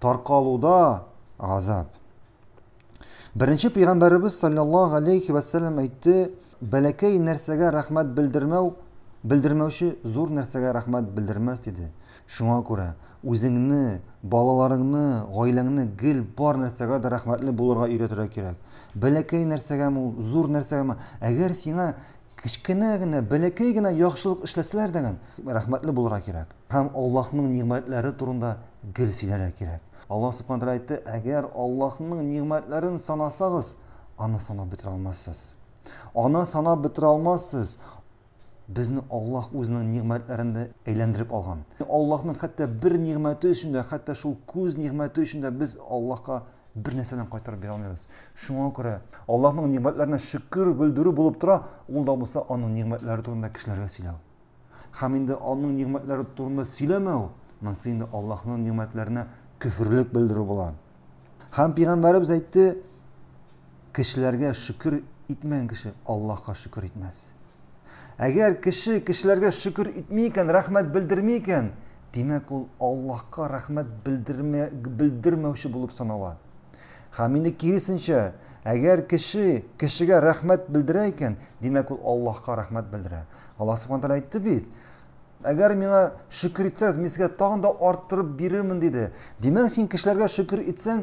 Таркалуда газап. Беренче пәйгамбәребез саллаллаһу алейхи ва саллям әйтте, бәләкәй нәрсәгә рәхмәт белдермәү, белдермәүче зур нәрсәгә рәхмәт белдермәс диде. Шуңа күрә үзеңне, балаларыңны, гаиләңне гел бар нәрсәгә дә рәхмәтле булырга өйрәтергә кирәк. Бәләкәй нәрсәгәме ул, зур нәрсәгәме? Әгәр сиңа Кечкенә генә, бәләкәй генә яхшылык эшләсәләр дә, рәхмәтле булырга кирәк. Һәм Аллаһның нигъмәтләре турында гел сөйләргә кирәк. Аллаһ Субхана Тәгалә әйтте, Әгәр Аллаһның нигъмәтләрен санасагыз, аны санап бетерә алмассыз. Аны санап бетерә алмассыз. Безне Аллаһ үзенең нигъмәтләрендә әйләндереп алган. Аллаһның хәтта бер нигъмәте өчен дә, хәтта шул күз нигъмәте өчен дә без Аллаһка Бер нәрсә белән кайтарып бирә алмыйбыз. Шуңа күрә Аллаһның нигъмәтләренә шөкер белдерү булып тора, ул да булса аның нигъмәтләре турында кешеләргә сөйләү. Һәм инде аның нигъмәтләре турында сөйләмәү, монысы инде Аллаһның нигъмәтләренә көферлек белдерү була. Һәм пәйгамбәребез әйтте, Кешеләргә шөкер итмәгән кеше Аллаһка шөкер итмәс. Әгәр кеше кешеләргә шөкер итми икән, рәхмәт белдерми икән, димәк ул Аллаһка рәхмәт белдермә, белдермәүче булып санала. Һәм инде киресенчә, әгәр кеше кешегә рәхмәт белдерә икән, димәк ул Аллаһка рәхмәт белдерә. Аллаһ Субхану тәгалә әйтте бит, Әгәр миңа шөкер итсәгез, мин сезгә тагын да арттырып бирермен, диде. Димәк, син кешеләргә шөкер итсәң,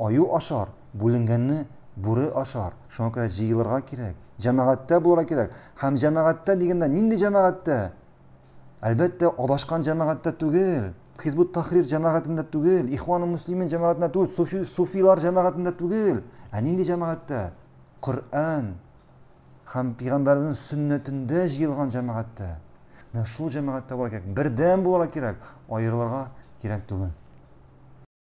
Аю ашар, бүленгәнне бүре ашар. Шуңа күрә җыелырга кирәк, җәмәгатьтә булырга кирәк. Һәм җәмәгатьтә дигәндә нинди җәмәгатьтә? Әлбәттә, адашкан җәмәгатьтә түгел, Хизбут Тахрир җәмәгатендә түгел, Ихван муслимин җәмәгатендә түгел, суфи, суфилар җәмәгатендә түгел. Ә нинди җәмәгатьтә? Коръән һәм пәйгамбәрнең сөннәтендә җыелган җәмәгатьтә. Менә шул җәмәгатьтә булырга кирәк, бердәм булырга кирәк, аерылырга кирәк түгел.